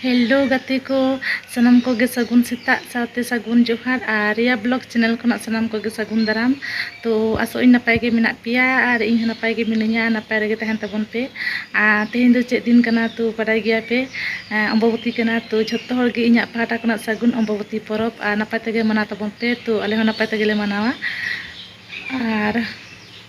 hello ᱜᱟᱛᱮ ᱠᱚ ᱥᱟᱱᱟᱢ ᱠᱚᱜᱮ ᱥᱟᱹᱜᱩᱱ ᱥᱮᱛᱟᱜ ᱥᱟᱶᱛᱮ ᱥᱟᱹᱜᱩᱱ ᱡᱚᱦᱟᱨ ᱟᱨ ᱨᱮᱭᱟ ᱵᱞᱚᱜ ᱪᱮᱱᱮᱞ ᱠᱷᱚᱱᱟᱜ ᱥᱟᱱᱟᱢ ᱠᱚᱜᱮ ᱥᱟᱹᱜᱩᱱ ᱫᱟᱨᱟᱢ ᱛᱚ ᱟᱥᱚᱜ ᱟᱹᱧ ᱱᱟᱯᱟᱭ ᱜᱮ ᱢᱮᱱᱟᱜ ᱯᱮᱭᱟ ᱟᱨ ᱤᱧ ᱦᱚᱸ ᱱᱟᱯᱟᱭ ᱜᱮ ᱢᱤᱱᱟᱹᱧᱟ ᱱᱟᱯᱟᱭ ᱨᱮᱜᱮ ᱛᱟᱦᱮᱱ ᱛᱟᱵᱚᱱ ᱯᱮ ᱟᱨ ᱛᱮᱦᱮᱧ ᱫᱚ ᱪᱮᱫ ᱫᱤᱱ ᱠᱟᱱᱟ ᱛᱚ ᱵᱟᱰᱟᱭ ᱜᱮᱭᱟ ᱯᱮ ᱚᱢᱵᱚᱵᱚᱛᱤ ᱠᱟᱱᱟ ᱛᱚ ᱡᱷᱚᱛᱚ ᱦᱚᱲ ᱜᱮ ᱤᱧᱟᱹᱜ ᱯᱟᱦᱴᱟ ᱠᱷᱚᱱᱟᱜ ᱥᱟᱹᱜᱩᱱ ᱚᱢᱵᱚᱵᱚᱛᱤ ᱯᱚᱨᱚᱵᱽ ᱟᱨ ᱱᱟᱯᱟᱭ ᱛᱮᱜᱮ ᱢᱟᱱᱟᱣ ᱛᱟᱵᱚᱱ ᱯᱮ ᱛᱚ ᱟᱞᱮ ᱦᱚᱸ ᱱᱟᱯᱟᱭ ᱛᱮᱜᱮ ᱞᱮ ᱢᱟᱱᱟᱣᱟ ᱟᱨ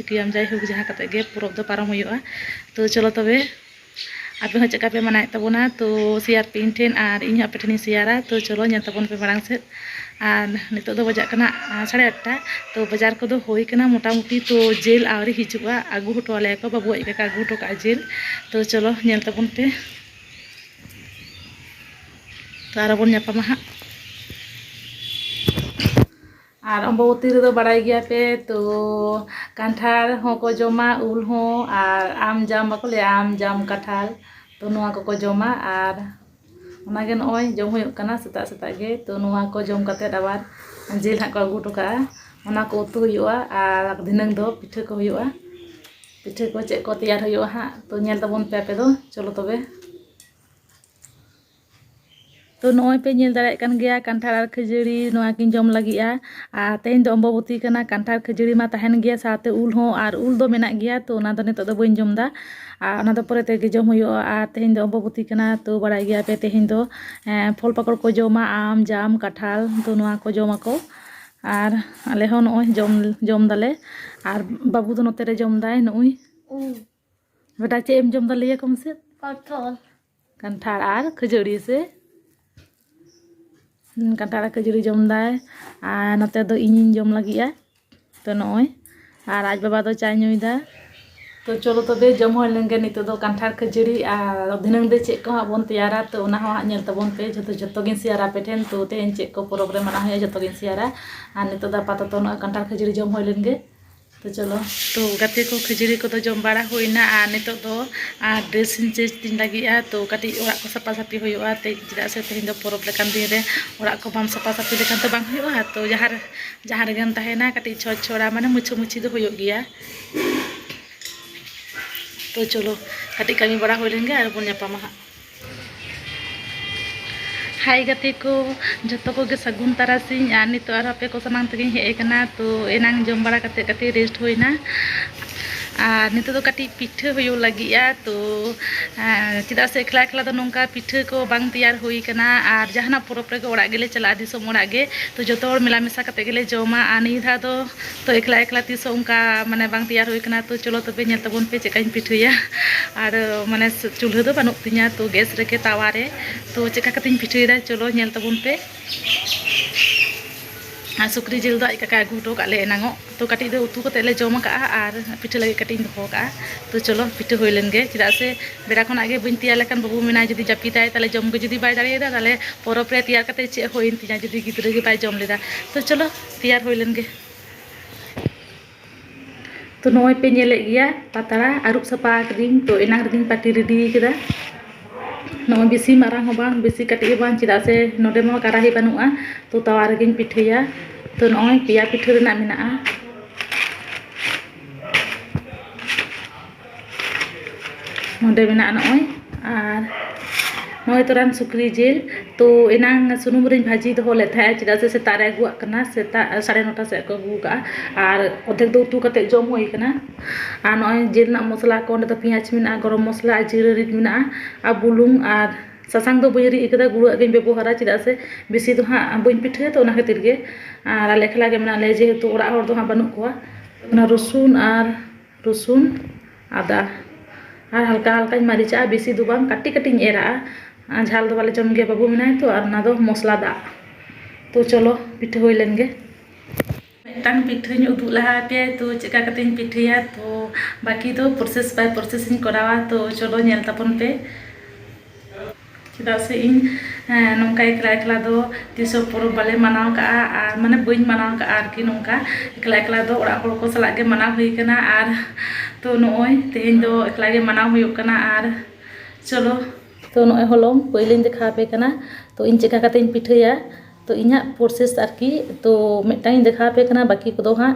ᱪᱤᱠᱟᱹᱭᱟᱢ ᱡᱟᱭᱦᱳᱠ ᱡᱟᱦᱟᱸ ᱠᱟᱛᱮ ᱜᱮ ᱯᱚᱨᱚᱵᱽ ᱫᱚ ᱯᱟᱨᱚᱢ ᱦᱩᱭᱩᱜᱼᱟ ᱛᱚ ᱪᱚᱞᱚ ᱛᱚᱵᱮ ᱟᱯᱮ ᱦᱚᱸ ᱪᱮᱫᱠᱟ ᱯᱮ ᱢᱟᱱᱟᱣᱮᱫ ᱛᱟᱵᱚᱱᱟ ᱛᱚ ᱥᱮᱭᱟᱨ ᱯᱮ ᱤᱧ ᱴᱷᱮᱱ ᱟᱨ ᱤᱧ ᱦᱚᱸ ᱟᱯᱮ ᱴᱷᱮᱱᱤᱧ ᱥᱮᱭᱟᱨᱟ ᱛᱚ ᱪᱚᱞᱚ ᱧᱮᱞ ᱛᱟᱵᱚᱱ ᱯᱮ ᱢᱟᱲᱟᱝ ᱥᱮᱫ ᱟᱨ ᱱᱤᱛᱚᱜ ᱫᱚ ᱵᱟᱡᱟᱜ ᱠᱟᱱᱟ ᱥᱟᱲᱮ ᱟᱴᱴᱟ ᱛᱚ ᱵᱟᱡᱟᱨ ᱠᱚᱫᱚ ᱦᱩᱭ ᱠᱟᱱᱟ ᱢᱚᱴᱟᱢᱩᱴᱤ ᱛᱚ ᱡᱤᱞ ᱟᱹᱣᱨᱤ ᱦᱤᱡᱩᱜᱼᱟ ᱟᱹᱜᱩ ᱦᱚᱴᱚ ᱟᱞᱮᱭᱟ ᱠᱚ ᱵᱟᱹᱵᱩ ᱟᱡ ᱠᱟᱠᱟ ᱟᱹᱜᱩ ᱦᱚᱴᱚ ᱠᱟᱜᱼᱟ ᱡᱤᱞ ᱛᱚ ᱪᱚᱞᱚ ᱧᱮᱞ ᱛᱟᱵᱚᱱ ᱯᱮ ᱛᱚ ᱟᱨᱚ ᱵᱚᱱ ᱧᱟᱯᱟᱢᱟ ᱦᱟᱸᱜ ᱟᱨ ᱚᱢᱵᱚᱵᱚᱛᱤ ᱨᱮᱫᱚ ᱵᱟᱲᱟᱭ ᱜᱮᱭᱟ ᱯᱮ ᱛᱚ ᱠᱟᱱᱴᱷᱟᱲ ᱦᱚᱸᱠᱚ ᱡᱚᱢᱟ ᱩᱞ ᱦᱚᱸ ᱟᱨ ᱟᱢ ᱡᱟᱢ ᱵᱟᱠᱚ ᱞᱟᱹᱭᱟ ᱟᱢ ᱡᱟᱢ ᱠᱟᱱᱴᱷᱟᱲ ᱛᱚ ᱱᱚᱣᱟ ᱠᱚᱠᱚ ᱡᱚᱢᱟ ᱟᱨ ᱚᱱᱟ ᱜᱮ ᱱᱚᱜᱼᱚᱭ ᱡᱚᱢ ᱦᱩᱭᱩᱜ ᱠᱟᱱᱟ ᱥᱮᱛᱟᱜ ᱥᱮᱛᱟᱜ ᱜᱮ ᱛᱚ ᱱᱚᱣᱟ ᱠᱚ ᱡᱚᱢ ᱠᱟᱛᱮ ᱟᱵᱟᱨ ᱡᱤᱞ ᱦᱟᱸᱜ ᱠᱚ ᱟᱹᱜᱩ ᱦᱚᱴᱚ ᱠᱟᱜᱼᱟ ᱚᱱᱟ ᱠᱚ ᱩᱛᱩ ᱦᱩᱭᱩᱜᱼᱟ ᱟᱨ ᱫᱷᱤᱱᱟᱹᱝ ᱫᱚ ᱯᱤᱴᱷᱟᱹ ᱠᱚ ᱦᱩᱭᱩᱜᱼᱟ ᱯᱤᱴᱷᱟᱹ ᱠᱚ ᱪᱮᱫ ᱠᱚ ᱛᱮᱭᱟᱨ ᱦᱩᱭᱩᱜᱼᱟ ᱦᱟᱸᱜ ᱛᱚ ᱧᱮᱞ ᱛᱟᱵᱚᱱ ᱯᱮ ᱟᱯᱮ ᱫᱚ ᱪᱚᱞᱚ ᱛᱚᱵᱮ ᱛᱚ ᱱᱚᱜᱼᱚᱭ ᱯᱮ ᱧᱮᱞ ᱫᱟᱲᱮᱭᱟᱜ ᱠᱟᱱ ᱜᱮᱭᱟ ᱠᱟᱱᱴᱷᱟᱲ ᱟᱨ ᱠᱷᱟᱹᱡᱟᱹᱲᱤ ᱱᱚᱣᱟ ᱠᱤᱱ ᱡᱚᱢ ᱞᱟᱹᱜᱤᱫᱼᱟ ᱟᱨ ᱛᱮᱦᱮᱧ ᱫᱚ ᱚᱢᱵᱚᱵᱚᱛᱤ ᱠᱟᱱᱟ ᱠᱟᱱᱴᱷᱟᱲ ᱠᱷᱟᱹᱡᱟᱹᱲᱤ ᱢᱟ ᱛᱟᱦᱮᱱ ᱜᱮᱭᱟ ᱥᱟᱶᱛᱮ ᱩᱞ ᱦᱚᱸ ᱟᱨ ᱩᱞ ᱫᱚ ᱢᱮᱱᱟᱜ ᱜᱮᱭᱟ ᱛᱚ ᱚᱱᱟ ᱫᱚ ᱱᱤᱛᱳᱜ ᱫᱚ ᱵᱟᱹᱧ ᱡᱚᱢᱫᱟ ᱟᱨ ᱚᱱᱟ ᱫᱚ ᱯᱚᱨᱮ ᱛᱮᱜᱮ ᱡᱚᱢ ᱦᱩᱭᱩᱜᱼᱟ ᱟᱨ ᱛᱮᱦᱮᱧ ᱫᱚ ᱚᱢᱵᱚᱵᱚᱛᱤ ᱠᱟᱱᱟ ᱛᱚ ᱵᱟᱲᱟᱭ ᱜᱮᱭᱟ ᱯᱮ ᱛᱮᱦᱮᱧ ᱫᱚ ᱯᱷᱚᱞ ᱯᱟᱠᱚᱲ ᱠᱚ ᱡᱚᱢᱟ ᱟᱢ ᱡᱟᱢ ᱠᱟᱴᱷᱟᱞ ᱛᱚ ᱱᱚᱣᱟ ᱠᱚ ᱡᱚᱢᱟᱠᱚ ᱟᱨ ᱟᱞᱮ ᱦᱚᱸ ᱱᱚᱜᱼᱚᱭ ᱡᱚᱢ ᱡᱚᱢ ᱫᱟᱞᱮ ᱟᱨ ᱵᱟᱹᱵᱩ ᱫᱚ ᱱᱚᱛᱮ ᱨᱮ ᱡᱚᱢᱫᱟᱭ ᱱᱩᱜᱼᱩᱭ ᱵᱮᱴᱟ ᱪᱮᱫ ᱮᱢ ᱡᱚᱢ ᱫᱟ ᱞᱟᱹᱭ ᱟᱠᱚ ᱢᱮᱥᱮ ᱯᱚᱴᱚᱞ ᱠᱟᱱᱴᱷᱟᱲ ᱟᱨ ᱠᱷᱟᱹᱡᱟᱹᱲᱤ ᱥᱮ ᱠᱟᱱᱴᱷᱟᱲ ᱟᱨ ᱠᱷᱟᱹᱡᱟᱹᱲᱤ ᱡᱚᱢ ᱫᱟᱭ ᱟᱨ ᱱᱚᱛᱮ ᱫᱚ ᱤᱧᱤᱧ ᱡᱚᱢ ᱞᱟᱹᱜᱤᱫᱼᱟ ᱛᱚ ᱱᱚᱜᱼᱚᱭ ᱟᱨ ᱟᱡ ᱵᱟᱵᱟ ᱫᱚ ᱪᱟᱭ ᱧᱩᱭᱫᱟ ᱛᱚ ᱪᱚᱞᱚ ᱛᱚᱵᱮ ᱡᱚᱢ ᱦᱩᱭ ᱞᱮᱱᱜᱮ ᱱᱤᱛᱚᱜ ᱫᱚ ᱠᱟᱱᱴᱷᱟᱲ ᱠᱷᱟᱹᱡᱟᱹᱲᱤ ᱟᱨ ᱫᱷᱤᱱᱟᱹᱝ ᱫᱚ ᱪᱮᱫ ᱠᱚ ᱦᱟᱸᱜ ᱵᱚᱱ ᱛᱮᱭᱟᱨᱟ ᱛᱚ ᱚᱱᱟ ᱦᱚᱸ ᱦᱟᱸᱜ ᱧᱮᱞ ᱛᱟᱵᱚᱱ ᱯᱮ ᱡᱚᱛᱚ ᱡᱚᱛᱚ ᱜᱤᱧ ᱥᱮᱭᱟᱨᱟ ᱟᱯᱮ ᱴᱷᱮᱱ ᱛᱚ ᱛᱮᱦᱮᱧ ᱪᱮᱫ ᱠᱚ ᱯᱚᱨᱚᱵᱽ ᱨᱮ ᱢᱟᱱᱟᱣ ᱦᱩᱭᱩᱜᱼᱟ ᱡᱚᱛᱚ ᱜᱤᱧ ᱥᱮᱭᱟᱨᱟ ᱟᱨ ᱱᱤᱛᱚᱜ ᱫᱚ ᱟᱯᱟᱛᱚᱛᱚ ᱱᱚᱜᱼᱚᱭ ᱠᱟᱱᱴᱷᱟᱲ ᱠᱷᱟᱹᱡᱟᱹᱲᱤ ᱡᱚᱢ ᱦᱩᱭ ᱞᱮᱱᱜᱮ ᱛᱚ ᱪᱚᱞᱚ ᱛᱚ ᱜᱟᱛᱮ ᱠᱚ ᱠᱷᱟᱹᱡᱟᱹᱲᱤ ᱠᱚᱫᱚ ᱡᱚᱢ ᱵᱟᱲᱟ ᱦᱩᱭᱱᱟ ᱟᱨ ᱱᱤᱛᱚᱜ ᱫᱚ ᱟᱨ ᱰᱨᱮᱥ ᱤᱧ ᱪᱮᱧᱡᱽ ᱛᱤᱧ ᱞᱟᱹᱜᱤᱫᱼᱟ ᱛᱚ ᱠᱟᱹᱴᱤᱡ ᱚᱲᱟᱜ ᱠᱚ ᱥᱟᱯᱟ ᱥᱟᱹᱯᱷᱤ ᱦᱩᱭᱩᱜᱼᱟ ᱛᱮᱦᱮᱧ ᱪᱮᱫᱟᱜ ᱥᱮ ᱛᱮᱦᱮᱧ ᱫᱚ ᱯᱚᱨᱚᱵᱽ ᱞᱮᱠᱟᱱ ᱫᱤᱱ ᱨᱮ ᱚᱲᱟᱜ ᱠᱚ ᱵᱟᱢ ᱥᱟᱯᱟ ᱥᱟᱹᱯᱷᱤ ᱞᱮᱠᱷᱟᱱ ᱛᱚ ᱵᱟᱝ ᱦᱩᱭᱩᱜᱼᱟ ᱛᱚ ᱡᱟᱦᱟᱸ ᱨᱮ ᱡᱟᱦᱟᱸ ᱨᱮᱜᱮᱢ ᱛᱟᱦᱮᱱᱟ ᱠᱟᱹᱴᱤᱡ ᱪᱷᱚᱸᱪ ᱪᱷᱚᱲᱟ ᱢᱟᱱᱮ ᱢᱩᱪᱷᱟᱹ ᱢᱩᱪᱷᱤ ᱫᱚ ᱦᱩᱭᱩᱜ ᱜᱮᱭᱟ ᱛᱚ ᱪᱚᱞᱚ ᱠᱟᱹᱴᱤᱡ ᱠᱟᱹᱢᱤ ᱵᱟᱲᱟ ᱦᱩᱭ ᱞᱮᱱ ᱜᱮ ᱟᱨ ᱵᱚᱱ ᱧᱟᱯᱟᱢᱟ ᱦᱟᱸᱜ ᱦᱟᱭ ᱜᱟᱛᱮ ᱠᱚ ᱡᱚᱛᱚ ᱠᱚᱜᱮ ᱥᱟᱹᱜᱩᱱ ᱛᱟᱨᱟᱥᱤᱧ ᱟᱨ ᱱᱤᱛᱚᱜ ᱟᱨᱦᱚᱸ ᱟᱯᱮ ᱠᱚ ᱥᱟᱢᱟᱝ ᱛᱮᱜᱮᱧ ᱦᱮᱡ ᱟᱠᱟᱱᱟ ᱛᱚ ᱮᱱᱟᱝ ᱡᱚᱢ ᱵᱟᱲᱟ ᱠᱟᱛᱮ ᱠᱟᱹᱴᱤᱡ ᱨᱮᱥᱴ ᱦᱩᱭᱱᱟ ᱟᱨ ᱱᱤᱛᱚᱜ ᱫᱚ ᱠᱟᱹᱴᱤᱡ ᱯᱤᱴᱷᱟᱹ ᱦᱩᱭᱩᱜ ᱞᱟᱹᱜᱤᱫᱼᱟ ᱛᱚ ᱪᱮᱫᱟᱜ ᱥᱮ ᱮᱠᱞᱟ ᱮᱠᱞᱟ ᱫᱚ ᱱᱚᱝᱠᱟ ᱯᱤᱴᱷᱟᱹ ᱠᱚ ᱵᱟᱝ ᱛᱮᱭᱟᱨ ᱦᱩᱭ ᱠᱟᱱᱟ ᱟᱨ ᱡᱟᱦᱟᱱᱟᱜ ᱯᱚᱨᱚᱵᱽ ᱨᱮᱜᱮ ᱚᱲᱟᱜ ᱜᱮᱞᱮ ᱪᱟᱞᱟᱜᱼᱟ ᱫᱤᱥᱚᱢ ᱚᱲᱟᱜ ᱜᱮ ᱛᱚ ᱡᱚᱛᱚ ᱦᱚᱲ ᱢᱮᱞᱟ ᱢᱮᱥᱟ ᱠᱟᱛᱮ ᱜᱮᱞᱮ ᱡᱚᱢᱟ ᱟᱨ ᱱᱤᱭᱟᱹ ᱫᱷᱟᱣ ᱫᱚ ᱛᱚ ᱮᱠᱞᱟ ᱮᱠᱞᱟ ᱛᱤᱥ ᱦᱚᱸ ᱚᱱᱠᱟ ᱢᱟᱱᱮ ᱵᱟᱝ ᱛᱮᱭᱟᱨ ᱦᱩᱭ ᱠᱟᱱᱟ ᱛᱚ ᱪᱚᱞᱚ ᱛᱚᱵᱮ ᱧᱮᱞ ᱛᱟᱵᱚᱱ ᱯᱮ ᱪᱮᱫ ᱠᱟᱹᱧ ᱯᱤᱴᱷᱟᱹᱭᱟ ᱟᱨ ᱢᱟᱱᱮ ᱪᱩᱞᱦᱟᱹ ᱫᱚ ᱵᱟᱹᱱᱩᱜ ᱛᱤᱧᱟ ᱛᱚ ᱜᱮᱥ ᱨᱮᱜᱮ ᱛᱟᱣᱟ ᱨᱮ ᱛᱚ ᱪᱮᱫ ᱞᱮᱠᱟ ᱠᱟᱛᱮᱧ ᱯᱤᱴᱷᱟᱹᱭᱮᱫᱟ ᱪᱚᱞᱚ ᱧᱮᱞ ᱛᱟᱵᱚᱱ ᱯᱮ ᱟᱨ ᱥᱩᱠᱨᱤ ᱡᱤᱞ ᱫᱚ ᱟᱡ ᱠᱟᱠᱟ ᱟᱹᱜᱩ ᱦᱚᱴᱚ ᱠᱟᱜ ᱞᱮ ᱮᱱᱟᱝᱚᱜ ᱛᱚ ᱠᱟᱹᱴᱤᱡ ᱫᱚ ᱩᱛᱩ ᱠᱟᱛᱮ ᱞᱮ ᱡᱚᱢ ᱟᱠᱟᱜᱼᱟ ᱟᱨ ᱯᱤᱴᱷᱟᱹ ᱞᱟᱹᱜᱤᱫ ᱠᱟᱹᱴᱤᱡ ᱤᱧ ᱫᱚᱦᱚ ᱟᱠᱟᱜᱼᱟ ᱛᱚ ᱪᱚᱞᱚ ᱯᱤᱴᱷᱟᱹ ᱦᱩᱭ ᱞᱮᱱ ᱜᱮ ᱪᱮᱫᱟᱜ ᱥᱮ ᱵᱮᱲᱟ ᱠᱷᱚᱱᱟᱜ ᱜᱮ ᱵᱟᱹᱧ ᱛᱮᱭᱟᱨ ᱞᱮᱠᱷᱟᱱ ᱵᱟᱹᱵᱩ ᱢᱮᱱᱟᱭ ᱡᱩᱫᱤ ᱡᱟᱹᱯᱤᱫᱟᱭ ᱛᱟᱦᱚᱞᱮ ᱡᱚᱢ ᱜᱮ ᱡᱩᱫᱤ ᱵᱟᱭ ᱫᱟᱲᱮᱭᱟᱫᱟ ᱛᱟᱦᱚᱞᱮ ᱯᱚᱨᱚᱵᱽ ᱨᱮ ᱛᱮᱭᱟᱨ ᱠᱟᱛᱮ ᱪᱮᱫ ᱦᱩᱭᱮᱱ ᱛᱤᱧᱟ ᱡᱩᱫᱤ ᱜᱤᱫᱽᱨᱟᱹ ᱜᱮ ᱵᱟᱭ ᱡᱚᱢ ᱞᱮᱫᱟ ᱛᱚ ᱪᱚᱞᱚ ᱛᱮᱭᱟᱨ ᱦᱩᱭ ᱞᱮᱱ ᱜᱮ ᱛᱚ ᱱᱚᱜᱼᱚᱭ ᱯᱮ ᱧᱮᱞᱮᱫ ᱜᱮᱭᱟ ᱯᱟᱛᱲᱟ ᱟᱹᱨᱩᱵ ᱥᱟᱯᱷᱟ ᱟᱠᱟᱫᱤᱧ ᱛᱚ ᱮᱱᱟᱝ ᱨᱮᱜᱤᱧ ᱯᱟᱹᱴᱤ ᱨᱮᱰᱤ ᱠᱮᱫᱟ ᱱᱚᱜᱼᱚᱭ ᱵᱮᱥᱤ ᱢᱟᱨᱟᱝ ᱦᱚᱸ ᱵᱟᱝ ᱵᱮᱥᱤ ᱠᱟᱹᱴᱤᱡ ᱦᱚᱸ ᱵᱟᱝ ᱪᱮᱫᱟᱜ ᱥᱮ ᱱᱚᱰᱮ ᱢᱟ ᱠᱟᱨᱟᱦᱤ ᱵᱟᱹᱱᱩᱜᱼᱟ ᱛᱚ ᱛᱟᱣᱟ ᱨᱮᱜᱤᱧ ᱯᱤᱴᱷᱟᱹᱭᱟ ᱛᱚ ᱱᱚᱜᱼᱚᱭ ᱯᱮᱭᱟ ᱯᱤᱴᱷᱟᱹ ᱨᱮᱱᱟᱜ ᱢᱮᱱᱟᱜᱼᱟ ᱱᱚᱸᱰᱮ ᱢᱮᱱᱟᱜᱼᱟ ᱱᱚᱜᱼᱚᱭ ᱟᱨ ᱱᱚᱜᱼᱚᱭ ᱛᱚᱨᱟᱝ ᱥᱩᱠᱨᱤ ᱡᱤᱞ ᱛᱚ ᱮᱱᱟᱝ ᱥᱩᱱᱩᱢ ᱨᱤᱧ ᱵᱷᱟᱹᱡᱤ ᱫᱚᱦᱚ ᱞᱮᱫ ᱛᱟᱦᱮᱸᱫ ᱪᱮᱫᱟᱜ ᱥᱮ ᱥᱮᱛᱟᱜ ᱨᱮ ᱟᱹᱜᱩᱣᱟᱜ ᱠᱟᱱᱟ ᱥᱮᱛᱟᱜ ᱥᱟᱲᱮ ᱱᱚᱴᱟ ᱥᱮᱫ ᱠᱚ ᱟᱹᱜᱩ ᱠᱟᱜᱼᱟ ᱟᱨ ᱚᱫᱷᱮᱠ ᱫᱚ ᱩᱛᱩ ᱠᱟᱛᱮᱫ ᱡᱚᱢ ᱦᱩᱭ ᱠᱟᱱᱟ ᱟᱨ ᱱᱚᱜᱼᱚᱭ ᱡᱤᱞ ᱨᱮᱱᱟᱜ ᱢᱚᱥᱞᱟ ᱠᱚ ᱚᱸᱰᱮ ᱫᱚ ᱯᱮᱸᱭᱟᱡᱽ ᱢᱮᱱᱟᱜᱼᱟ ᱜᱚᱨᱚᱢ ᱢᱚᱥᱞᱟ ᱟᱨ ᱡᱤᱨᱟᱹ ᱨᱤᱫ ᱢᱮᱱᱟᱜᱼᱟ ᱟᱨ ᱵᱩᱞᱩᱝ ᱟᱨ ᱥᱟᱥᱟᱝ ᱫᱚ ᱵᱟᱹᱧ ᱨᱤᱫ ᱠᱟᱫᱟ ᱜᱩᱲᱟᱹ ᱟᱜ ᱜᱤᱧ ᱵᱮᱵᱚᱦᱟᱨᱟ ᱪᱮᱫᱟᱜ ᱥᱮ ᱵᱮᱥᱤ ᱫᱚ ᱦᱟᱸᱜ ᱵᱟᱹᱧ ᱯᱤᱴᱷᱟᱹᱭᱟ ᱛᱚ ᱚᱱᱟ ᱠᱷᱟᱹᱛᱤᱨ ᱜᱮ ᱟᱨ ᱟᱞᱮ ᱮᱠᱞᱟ ᱜᱮ ᱢᱮᱱᱟᱜ ᱞᱮᱭᱟ ᱡᱮᱦᱮᱛᱩ ᱚᱲᱟᱜ ᱦᱚᱲ ᱫᱚ ᱦᱟᱸᱜ ᱵᱟᱹᱱᱩᱜ ᱠᱚᱣᱟ ᱚᱱᱟ ᱨᱚᱥᱩᱱ ᱟᱨ ᱨᱚᱥᱩᱱ ᱟᱫᱟ ᱟᱨ ᱦᱟᱞᱠᱟ ᱦᱟᱞᱠᱟᱧ ᱢᱟᱹᱨᱤᱪᱟᱜᱼᱟ ᱵᱮᱥᱤ ᱫᱚ ᱵᱟᱝ ᱠᱟᱹᱴᱤᱡ ᱠᱟᱹᱴᱤᱡ ᱤᱧ ᱮᱨᱟᱜᱼᱟ ᱟᱨ ᱡᱷᱟᱞ ᱫᱚ ᱵᱟᱞᱮ ᱡᱚᱢ ᱜᱮᱭᱟ ᱵᱟᱹᱵᱩ ᱢᱮᱱᱟᱭᱟ ᱛᱚ ᱟᱨ ᱚᱱᱟ ᱫᱚ ᱢᱚᱥᱞᱟ ᱫᱟᱜ ᱛᱚ ᱪᱚᱞᱚ ᱯᱤᱴᱷᱟᱹ ᱦᱩᱭ ᱞᱮᱱ ᱜᱮ ᱢᱤᱫᱴᱟᱝ ᱯᱤᱴᱷᱟᱹᱧ ᱩᱫᱩᱜ ᱞᱟᱦᱟ ᱟᱯᱮᱭᱟ ᱛᱚ ᱪᱮᱫ ᱞᱮᱠᱟ ᱠᱟᱛᱮᱫ ᱤᱧ ᱯᱤᱴᱷᱟᱹᱭᱟ ᱛᱚ ᱵᱟᱹᱠᱤ ᱫᱚ ᱯᱨᱚᱥᱮᱥ ᱵᱟᱭ ᱯᱨᱚᱥᱮᱥ ᱤᱧ ᱠᱚᱨᱟᱣᱟ ᱛᱚ ᱪᱚᱞᱚ ᱧᱮᱞ ᱛᱟᱵᱚᱱ ᱯᱮ ᱪᱮᱫᱟᱜ ᱥᱮ ᱤᱧ ᱱᱚᱝᱠᱟ ᱮᱠᱞᱟ ᱮᱠᱞᱟ ᱫᱚ ᱛᱤᱥ ᱦᱚᱸ ᱯᱚᱨᱚᱵᱽ ᱵᱟᱞᱮ ᱢᱟᱱᱟᱣ ᱠᱟᱜᱼᱟ ᱟᱨ ᱢᱟᱱᱮ ᱵᱟᱹᱧ ᱢᱟᱱᱟᱣ ᱠᱟᱜᱼᱟ ᱟᱨᱠᱤ ᱱᱚᱝᱠᱟ ᱮᱠᱞᱟ ᱮᱠᱞᱟ ᱫᱚ ᱚᱲᱟᱜ ᱦᱚᱲ ᱠᱚ ᱥᱟᱞᱟᱜ ᱜᱮ ᱢᱟᱱᱟᱣ ᱦᱩᱭ ᱠᱟᱱᱟ ᱟᱨ ᱛᱚ ᱱᱚᱜᱼᱚᱭ ᱛᱮᱦᱮᱧ ᱫᱚ ᱮᱠᱞᱟ ᱜᱮ ᱢᱟᱱᱟᱣ ᱦᱩᱭᱩᱜ ᱠᱟᱱᱟ ᱟᱨ ᱪᱚᱞᱚ ᱛᱚ ᱱᱚᱜᱼᱚᱭ ᱦᱚᱞᱚᱝ ᱯᱟᱹᱭᱞᱟᱹᱧ ᱫᱮᱠᱷᱟᱣ ᱟᱯᱮ ᱠᱟᱱᱟ ᱛᱚ ᱤᱧ ᱪᱮᱫ ᱞᱮᱠᱟ ᱠᱟᱛᱮᱫ ᱤᱧ ᱯᱤᱴᱷᱟᱹᱭᱟ ᱛᱚ ᱤᱧᱟᱹᱜ ᱯᱨᱚᱥᱮᱥ ᱟᱨᱠᱤ ᱛᱚ ᱢᱤᱫᱴᱟᱝ ᱤᱧ ᱫᱮᱠᱷᱟᱣ ᱟᱯᱮ ᱠᱟᱱᱟ ᱵᱟᱹᱠᱤ ᱠᱚᱫᱚ ᱦᱟᱸᱜ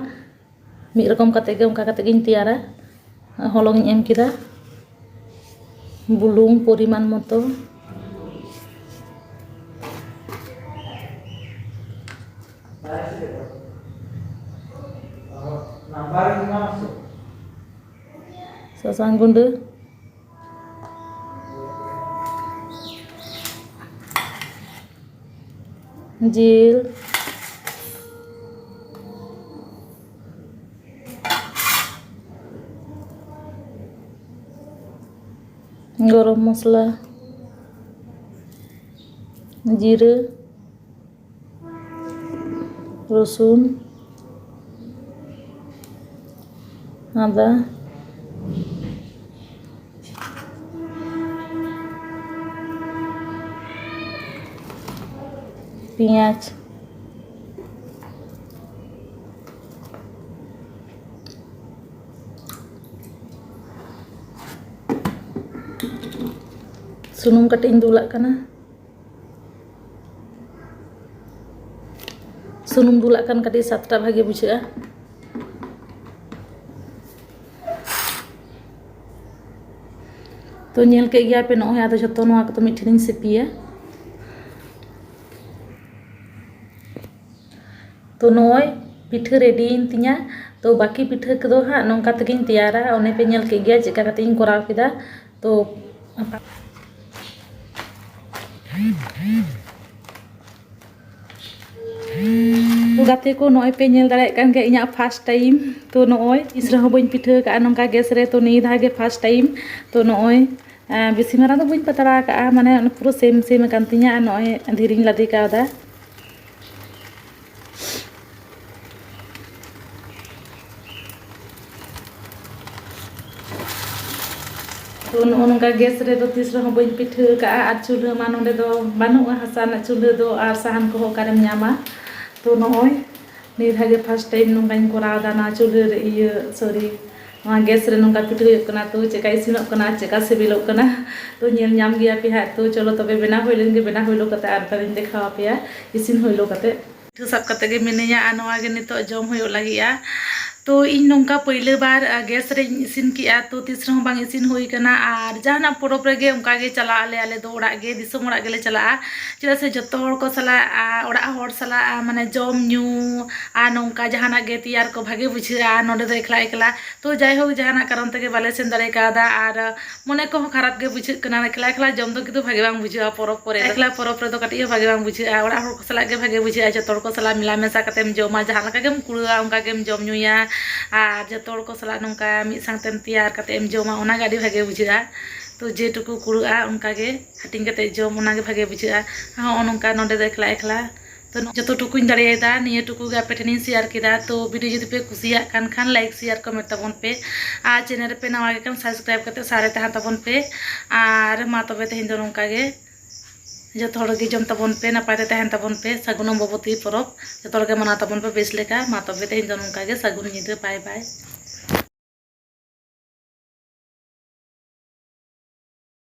ᱢᱤᱫ ᱨᱚᱠᱚᱢ ᱠᱟᱛᱮᱫ ᱜᱮ ᱚᱱᱠᱟ ᱠᱟᱛᱮᱫ ᱜᱤᱧ ᱛᱮᱭᱟᱨᱟ ᱦᱚᱞᱚᱝ ᱤᱧ ᱮᱢ ᱠᱮᱫᱟ ᱵᱩᱞᱩᱝ ᱯᱚᱨᱤᱢᱟᱱ ᱢᱚᱛᱚ ᱥᱟᱥᱟᱝ ᱜᱩᱰᱟᱹ ᱡᱤᱞ ᱜᱚᱨᱚᱢ ᱢᱚᱥᱞᱟ ᱡᱤᱨᱟᱹ ᱨᱚᱥᱩᱱ ᱟᱫᱟ ᱯᱮᱸᱭᱟᱡᱽ ᱥᱩᱱᱩᱢ ᱠᱟᱹᱴᱤᱡ ᱤᱧ ᱫᱩᱞᱟᱜ ᱠᱟᱱᱟ ᱥᱩᱱᱩᱢ ᱫᱩᱞᱟᱜ ᱠᱷᱟᱱ ᱠᱟᱹᱴᱤᱡ ᱥᱟᱛᱴᱟ ᱵᱷᱟᱜᱮ ᱵᱩᱡᱷᱟᱹᱜᱼᱟ ᱛᱚ ᱧᱮᱞ ᱠᱮᱫ ᱜᱮᱭᱟ ᱯᱮ ᱱᱚᱜᱼᱚᱭ ᱟᱫᱚ ᱡᱷᱚᱛᱚ ᱱᱚᱣᱟ ᱠᱚᱫᱚ ᱢᱤᱫ ᱴᱷᱮᱱᱤᱧ ᱥᱤᱯᱤᱭᱟ ᱛᱚ ᱱᱚᱜᱼᱚᱭ ᱯᱤᱴᱷᱟᱹ ᱨᱮᱰᱤᱭᱮᱱ ᱛᱤᱧᱟ ᱛᱚ ᱵᱟᱹᱠᱤ ᱯᱤᱴᱷᱟᱹ ᱠᱚᱫᱚ ᱦᱟᱸᱜ ᱱᱚᱝᱠᱟ ᱛᱮᱜᱮᱧ ᱛᱮᱭᱟᱨᱟ ᱚᱱᱮ ᱯᱮ ᱧᱮᱞ ᱠᱮᱫ ᱜᱮᱭᱟ ᱪᱮᱫᱠᱟ ᱠᱟᱛᱮᱧ ᱠᱚᱨᱟᱣ ᱠᱮᱫᱟ तो ᱜᱟᱛᱮ ᱠᱚ ᱱᱚᱜᱼᱚᱭ ᱯᱮ ᱧᱮᱞ ᱫᱟᱲᱮᱭᱟᱜ ᱠᱟᱱ ᱜᱮᱭᱟ ᱤᱧᱟᱹᱜ ᱯᱷᱟᱥᱴ ᱴᱟᱭᱤᱢ ᱛᱚ ᱱᱚᱜᱼᱚᱭ ᱛᱤᱥ ᱨᱮᱦᱚᱸ ᱵᱟᱹᱧ ᱯᱤᱴᱷᱟᱹ ᱠᱟᱜᱼᱟ ᱱᱚᱝᱠᱟ ᱜᱮᱥ ᱨᱮ ᱛᱚ ᱱᱤᱭᱟᱹ ᱫᱷᱟᱣ ᱜᱮ ᱯᱷᱟᱥᱴ ᱴᱟᱭᱤᱢ ᱛᱚ ᱱᱚᱜᱼᱚᱭ ᱵᱮᱥᱤ ᱢᱟᱨᱟᱝ ᱫᱚ ᱵᱟᱹᱧ ᱯᱟᱛᱲᱟ ᱠᱟᱜᱼᱟ ᱢᱟᱱᱮ ᱯᱩᱨᱟᱹ ᱥᱮᱢ ᱥᱮᱢ ᱠᱟᱱ ᱛᱤᱧᱟᱹ ᱟᱨ ᱱᱚᱜᱼᱚᱭ ᱫᱷᱤᱨᱤᱧ ᱞᱟᱫᱮ ᱠᱟᱣᱫᱟ ᱛᱚ ᱱᱚᱜᱼᱚ ᱱᱚᱝᱠᱟ ᱜᱮᱥ ᱨᱮᱫᱚ ᱛᱤᱥ ᱨᱮᱦᱚᱸ ᱵᱟᱹᱧ ᱯᱤᱴᱷᱟᱹ ᱠᱟᱜᱼᱟ ᱟᱨ ᱪᱩᱞᱦᱟᱹ ᱢᱟ ᱱᱚᱸᱰᱮ ᱫᱚ ᱵᱟᱹᱱᱩᱜᱼᱟ ᱦᱟᱥᱟ ᱨᱮᱱᱟᱜ ᱪᱩᱞᱦᱟᱹ ᱫᱚ ᱟᱨ ᱥᱟᱦᱟᱱ ᱠᱚᱦᱚᱸ ᱚᱠᱟᱨᱮᱢ ᱧᱟᱢᱟ ᱛᱚ ᱱᱚᱜᱼᱚᱭ ᱱᱤᱭᱟᱹ ᱫᱷᱟᱣ ᱜᱮ ᱯᱷᱟᱥᱴ ᱴᱟᱭᱤᱢ ᱱᱚᱝᱠᱟᱧ ᱠᱚᱨᱟᱣᱫᱟ ᱱᱚᱣᱟ ᱪᱩᱞᱦᱟᱹ ᱨᱮ ᱤᱭᱟᱹ ᱥᱚᱨᱤ ᱱᱚᱣᱟ ᱜᱮᱥ ᱨᱮ ᱱᱚᱝᱠᱟ ᱯᱤᱴᱷᱟᱹ ᱦᱩᱭᱩᱜ ᱠᱟᱱᱟ ᱛᱚ ᱪᱮᱫᱠᱟ ᱤᱥᱤᱱᱚᱜ ᱠᱟᱱᱟ ᱪᱮᱫᱠᱟ ᱥᱤᱵᱤᱞᱚᱜ ᱠᱟᱱᱟ ᱛᱚ ᱧᱮᱞ ᱧᱟᱢ ᱜᱮᱭᱟ ᱯᱮ ᱦᱟᱸᱜ ᱛᱚ ᱪᱚᱞᱚ ᱛᱚᱵᱮ ᱵᱮᱱᱟᱣ ᱦᱩᱭ ᱞᱮᱱ ᱜᱮ ᱵᱮᱱᱟᱣ ᱦᱩᱭᱞᱚ ᱠᱟᱛᱮ ᱟᱨ ᱛᱟᱦᱚᱞᱮᱧ ᱫᱮᱠᱷᱟᱣ ᱟᱯᱮᱭᱟ ᱤᱥᱤᱱ ᱦᱩᱭᱞᱚ ᱠᱟᱛᱮ ᱯᱤᱴᱷᱟᱹ ᱥᱟᱵ ᱠᱟᱛᱮ ᱜᱮ ᱢᱤᱱᱟᱹᱧᱟ ᱟᱨ ᱱᱚᱣᱟ ᱜᱮ ᱱᱤᱛᱚᱜ ᱡᱚᱢ ᱦᱩᱭᱩᱜ ᱞᱟᱹᱜᱤᱫᱼᱟ ᱛᱚ ᱤᱧ ᱱᱚᱝᱠᱟ ᱯᱟᱹᱭᱞᱟᱹ ᱵᱟᱨ ᱜᱮᱥ ᱨᱮᱧ ᱤᱥᱤᱱ ᱠᱮᱫᱼᱟ ᱛᱚ ᱛᱤᱥ ᱨᱮᱦᱚᱸ ᱵᱟᱝ ᱤᱥᱤᱱ ᱦᱩᱭ ᱠᱟᱱᱟ ᱟᱨ ᱡᱟᱦᱟᱱᱟᱜ ᱯᱚᱨᱚᱵᱽ ᱨᱮᱜᱮ ᱚᱱᱠᱟ ᱜᱮ ᱪᱟᱞᱟᱜ ᱟᱞᱮ ᱟᱞᱮ ᱫᱚ ᱚᱲᱟᱜ ᱜᱮ ᱫᱤᱥᱚᱢ ᱚᱲᱟᱜ ᱜᱮᱞᱮ ᱪᱟᱞᱟᱜᱼᱟ ᱪᱮᱫᱟᱜ ᱥᱮ ᱡᱚᱛᱚ ᱦᱚᱲ ᱠᱚ ᱥᱟᱞᱟᱜ ᱚᱲᱟᱜ ᱦᱚᱲ ᱥᱟᱞᱟᱜ ᱢᱟᱱᱮ ᱡᱚᱢ ᱧᱩ ᱟᱨ ᱱᱚᱝᱠᱟ ᱡᱟᱦᱟᱱᱟᱜ ᱜᱮ ᱛᱮᱭᱟᱨ ᱠᱚ ᱵᱷᱟᱜᱮ ᱵᱩᱡᱷᱟᱹᱜᱼᱟ ᱱᱚᱰᱮ ᱫᱚ ᱮᱠᱞᱟ ᱮᱠᱞᱟ ᱛᱚ ᱡᱟᱭᱦᱳᱠ ᱡᱟᱦᱟᱱᱟᱜ ᱠᱟᱨᱚᱱ ᱛᱮᱜᱮ ᱵᱟᱞᱮ ᱥᱮᱱ ᱫᱟᱲᱮ ᱠᱟᱣᱫᱟ ᱟᱨ ᱢᱚᱱᱮ ᱠᱚᱦᱚᱸ ᱠᱷᱟᱨᱟᱯ ᱜᱮ ᱵᱩᱡᱷᱟᱹᱜ ᱠᱟᱱᱟ ᱮᱠᱞᱟ ᱮᱠᱞᱟ ᱡᱚᱢ ᱫᱚ ᱠᱤᱱᱛᱩ ᱵᱷᱟᱜᱮ ᱵᱟᱝ ᱵᱩᱡᱷᱟᱹᱜᱼᱟ ᱯᱚᱨᱚᱵᱽ ᱠᱚᱨᱮ ᱫᱚ ᱮᱠᱞᱟ ᱯᱚᱨᱚᱵᱽ ᱨᱮᱫᱚ ᱠᱟᱹᱴᱤᱡ ᱦᱚᱸ ᱵᱷᱟᱜᱮ ᱵᱟᱝ ᱵᱩᱡᱷᱟᱹᱜᱼᱟ ᱚᱲᱟᱜ ᱦᱚᱲ ᱠᱚ ᱥᱟᱞᱟᱜ ᱜᱮ ᱵᱷᱟᱜᱮ ᱵᱩᱡᱷᱟᱹᱜᱼᱟ ᱡᱚᱛᱚ ᱦᱚᱲ ᱠᱚ ᱥᱟᱞᱟᱜ ᱢᱮᱞᱟ ᱢᱮᱥᱟ ᱠᱟᱛᱮᱢ ᱡᱚᱢᱟ ᱡᱟᱦᱟᱸ ᱞᱮᱠᱟ ᱜᱮᱢ ᱠᱩᱲᱟᱹᱣᱟ ᱚᱱᱠᱟ ᱜᱮᱢ ᱡᱚᱢ ᱧᱩᱭᱟ ᱟᱨ ᱡᱚᱛᱚ ᱦᱚᱲ ᱠᱚ ᱥᱟᱞᱟᱜ ᱱᱚᱝᱠᱟ ᱢᱤᱫ ᱥᱟᱝᱛᱮᱢ ᱛᱮᱭᱟᱨ ᱠᱟᱛᱮᱢ ᱡᱚᱢᱟ ᱚᱱᱟᱜᱮ ᱟᱹᱰᱤ ᱵᱷᱟᱜᱮ ᱵᱩᱡᱷᱟᱹᱜᱼᱟ ᱛᱚ ᱡᱮᱴᱩᱠᱩ ᱠᱩᱲᱟᱹᱜᱼᱟ ᱚᱱᱠᱟᱜᱮ ᱦᱟᱹᱴᱤᱧ ᱠᱟᱛᱮ ᱡᱚᱢ ᱚᱱᱟ ᱜᱮ ᱵᱷᱟᱜᱮ ᱵᱩᱡᱷᱟᱹᱜᱼᱟ ᱦᱚᱸᱜᱼᱚ ᱱᱚᱝᱠᱟ ᱱᱚᱰᱮ ᱫᱚ ᱮᱠᱞᱟ ᱮᱠᱞᱟ ᱛᱚ ᱡᱚᱛᱚ ᱴᱩᱠᱩᱧ ᱫᱟᱲᱮᱭᱟᱫᱟ ᱱᱤᱭᱟᱹ ᱴᱩᱠᱩ ᱜᱮ ᱟᱯᱮ ᱴᱷᱮᱱᱤᱧ ᱥᱮᱭᱟᱨ ᱠᱮᱫᱟ ᱛᱚ ᱵᱷᱤᱰᱤᱭᱳ ᱡᱩᱫᱤ ᱯᱮ ᱠᱩᱥᱤᱭᱟᱜ ᱠᱟᱱ ᱠᱷᱟᱱ ᱞᱟᱭᱤᱠ ᱥᱮᱭᱟᱨ ᱠᱚᱢᱮᱱᱴ ᱛᱟᱵᱚᱱ ᱯᱮ ᱟᱨ ᱪᱮᱱᱮᱞ ᱨᱮᱯᱮ ᱱᱟᱣᱟ ᱜᱮ ᱠᱷᱟᱱ ᱥᱟᱵᱥᱠᱨᱟᱭᱤᱵ ᱠᱟᱛᱮ ᱥᱟᱶ ᱨᱮ ᱛᱟᱦᱮᱱ ᱛᱟᱵᱚᱱ ᱯᱮ ᱟᱨ ᱢᱟ ᱛᱚᱵᱮ ᱛᱮᱦᱮᱧ ᱫᱚ ᱱᱚᱝᱠᱟ ᱜᱮ ᱡᱚᱛᱚ ᱦᱚᱲ ᱜᱮ ᱡᱚᱢ ᱛᱟᱵᱚᱱ ᱯᱮ ᱱᱟᱯᱟᱭ ᱛᱮ ᱛᱟᱦᱮᱱ ᱛᱟᱵᱚᱱ ᱯᱮ ᱥᱟᱹᱜᱩᱱ ᱚᱢᱵᱚᱵᱚᱛᱤ ᱯᱚᱨᱚᱵᱽ ᱡᱚᱛᱚ ᱦᱚᱲ ᱜᱮ ᱢᱟᱱᱟᱣ ᱛᱟᱵᱚᱱ ᱯᱮ ᱵᱮᱥ ᱞᱮᱠᱟ ᱢᱟ ᱛᱚᱵᱮ ᱛᱮᱦᱮᱧ ᱫᱚ ᱱᱚᱝᱠᱟ ᱜᱮ ᱥᱟᱹᱜᱩᱱ ᱧᱤᱫᱟᱹ ᱵᱟᱭ ᱵᱟᱭ